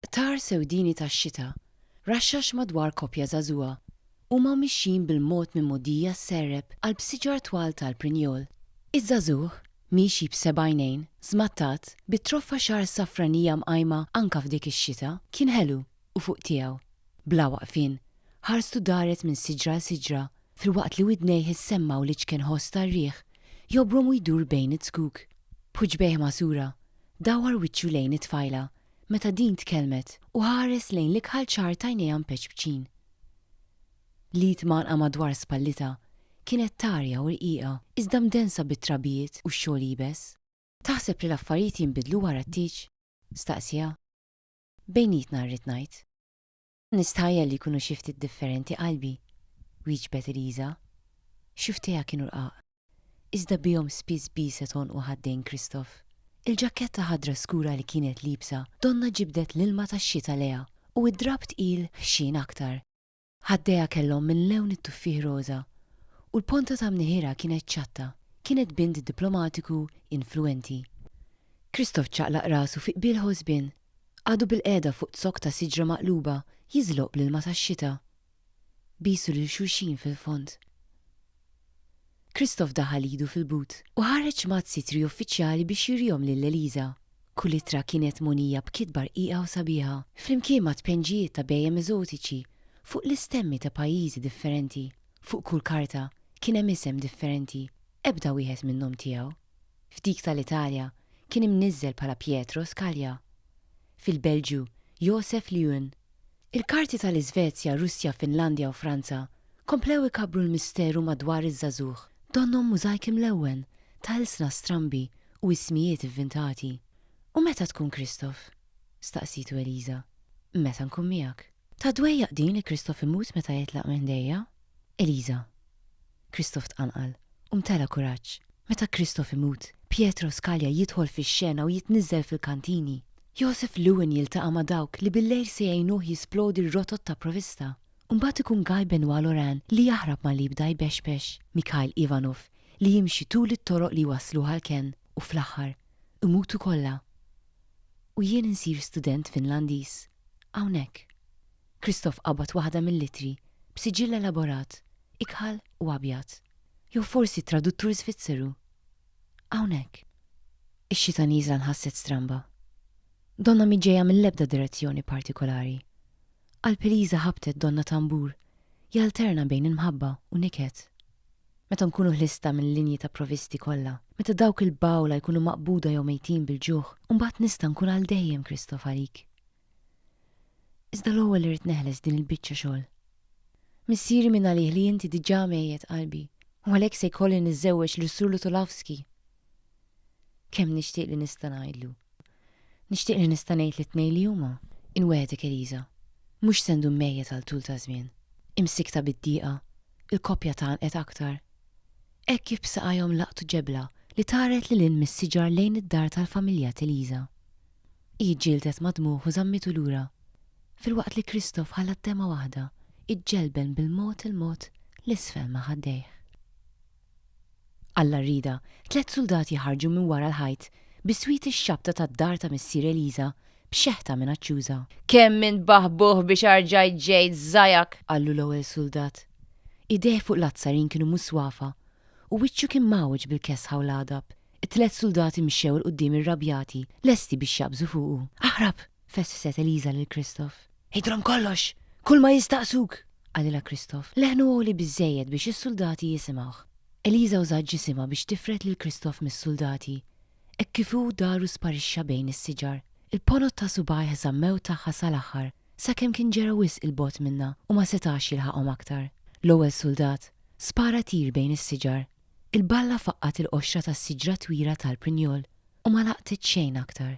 Qtar sewdini tax-xita, raxxax madwar koppja żagħżugħa. Huma mixjin bil-mod minn mogħdija sserrep qalb siġar twal tal-prinjol. Iż-żagħżugħ, miexi b'seba' għajnejn, żmattat, bi troffa xagħar safranija mqajma anka f'dik ix-xita, kien ħelu u fuq tiegħu. Bla waqfien, ħarstu daret minn siġra għal siġra filwaqt li widnejh issemmgħu l-iċken ħoss tar-riħ jobrom u jdur bejn iz-zkuk. B'ħuġbejh magħsura, dawwar wiċċu lejn it-tfajla meta din tkellmet u ħares lejn l-ikħal ċar t'għajnejha mpeċpċin. L-id mgħannqa madwar spallitha kienet tarja u rqiqa iżda mdensa bit-trabijiet u x-xogħol iebes. Taħseb li l-affarijiet jinbidlu wara t-tieġ? staqsieha. Bejnietna rrid ngħid. Nistħajjel li jkunu xi ftit differenti qalbi, wieġbet Eliża. Xufftejha kienu rqaq, iżda bihom spiss biset għonq u ħaddejn Kristof. Il-ġakketta ħadra skura li kienet liebsa donnha ġibdet l-ilma tax-xita lejha u d-drapp tqil ħxien aktar. Ħaddejha kellhom minn lewn it-tuffieħ roża u l-ponta ta' mniħirha kienet ċatta, kienet bint diplomatiku influwenti. Kristof ċaqlaq rasu fi qbil ħosbien. Għadu bilqiegħda fuq zokk ta' siġra maqluba jiżloq bl-ilma tax-xita. Bisu lil xulxin fil-fond. Christoph daħal idu fil-but u ħareġ mazzi tri uffiċjali biex jurihom lil Eliza. Kull ittra kienet mogħnija b'kitba rqiqa u sabiħa, flimkien ma' tpenġijiet ta' bhejjem eżotiċi fuq l-istemmi ta' pajjiżi differenti. Fuq kull karta kien hemm isem differenti, ebda wieħed minnhom tiegħu. F'dik tal-Italja kien imniżżel bħala Pietro Scalia. Fil-Belġju, Josef Leeuwen. Il-karti tal-Iżvezja, Russja, Finlandja u Franza komplew ikabbru l-misteru madwar iż-żagħżugħ, donnhom mużajk imlewwen ta' ilsna strambi u ismijiet ivvintati. U meta tkun Kristof? staqsitu Eliża. Meta nkun miegħek. Ta' dwejjaq din li Kristof imut meta jitlaq minn ħdejja. Eliża. Kristof tqanqal u mtela' kuraġġ. Meta Kristof imut, Pietro Skalja jidħol fix-xena u jitniżżel fil-kantini. Josef Lewin jiltaqa' ma' dawk li billejl se jgħinuh jisplodi r-rotot ta' provista. U mbagħad ikun Guy Benoit Laurent li jaħrab malli jibda jbexbex, Mikhail Ivanov li jimxi tul it-toroq li jwassluh għall-kenn u fl-aħħar, imutu kollha. u jien insir student Finlandiż hawnhekk. Christoph qabad waħda mill-ittri b'siġill elaborat, ikħal u abjad. Jew forsi t-traduttur Żvizzeru? Hawnhekk. Ix-xita nieżla nħasset stramba. Donnha mhi ġejja mill-ebda direzzjoni partikolari. Qalb Eliża ħabtet donna tambur jalterna bejn il-mħabba u niket. Meta nkunu ħlista mill-linji ta' provisti kollha, meta dawk il-bgħula jkunu maqbuda jew mejtin bil-ġuħ, imbagħad nista' nkun għal dejjem Kristof għalik. Iżda l-ewwel irrid neħles din il-biċċa xogħol. Missieri minn għalih li inti diġà mejjet qalbi, u għalhekk se jkolli niżżewweġ lis-Sur Lutulavsky. Kemm nixtieq li nista' ngħidlu. Nixtieq li nista' ngħid lit-tnejn li huma, Inwegħdek Elisa, mhux se ndum mejjet għal tul ta' żmien. Imsikkta bid-diqa, il-koppja tgħannqet aktar. Hekk kif b'saqajhom laqtu ġebla li taret lil hinn mis-siġar lejn id-dar tal-familja t'Elisa. Hi ġġieldet ma' dmugħ u żammitu lura, filwaqt li Christoph ħalla d-demgħa waħda iġġelben bil-mod il-mod 'l isfel ma' ħaddejh. Alla rriedha, tliet suldati ħarġu minn wara l-ħajt bi swied ix-xabta tad-dar ta' missier Eliża b'xeħta minaċċjuża. Kemm int baħbuħ biex arġajt ġejt żajak! qallu l-ewwel suldat. Idejh fuq l-azzarin kienu muswafa u wiċċu kien mgħawweġ bil-kesħa u l-għadab. It-tliet suldati mxew 'il quddiem irrabjati, lesti biex jaqbżu fuqu. Aħrab! fessset Eliża lil Christoph. Għidilhom kollox! Kull ma jistaqsuk! qalilha Christoph. Leħnu għoli biżżejjed biex is-suldati jisimgħuh. Eliża użat ġisimha biex tifred lil Christoph mis-suldati. Hekk kif hu dar u sparixxa bejn is-siġar. Il-ponot ta' subgħajh żammew tagħha sal-aħħar, sakemm kien ġera wisq 'il bogħod minnha u ma setax jilħaqhom aktar. L-ewwel suldat spara tir bejn is-siġar. Il-balla faqqgħet il-qoxra tas-siġra twila tal-prinjol u ma laqtet xejn aktar.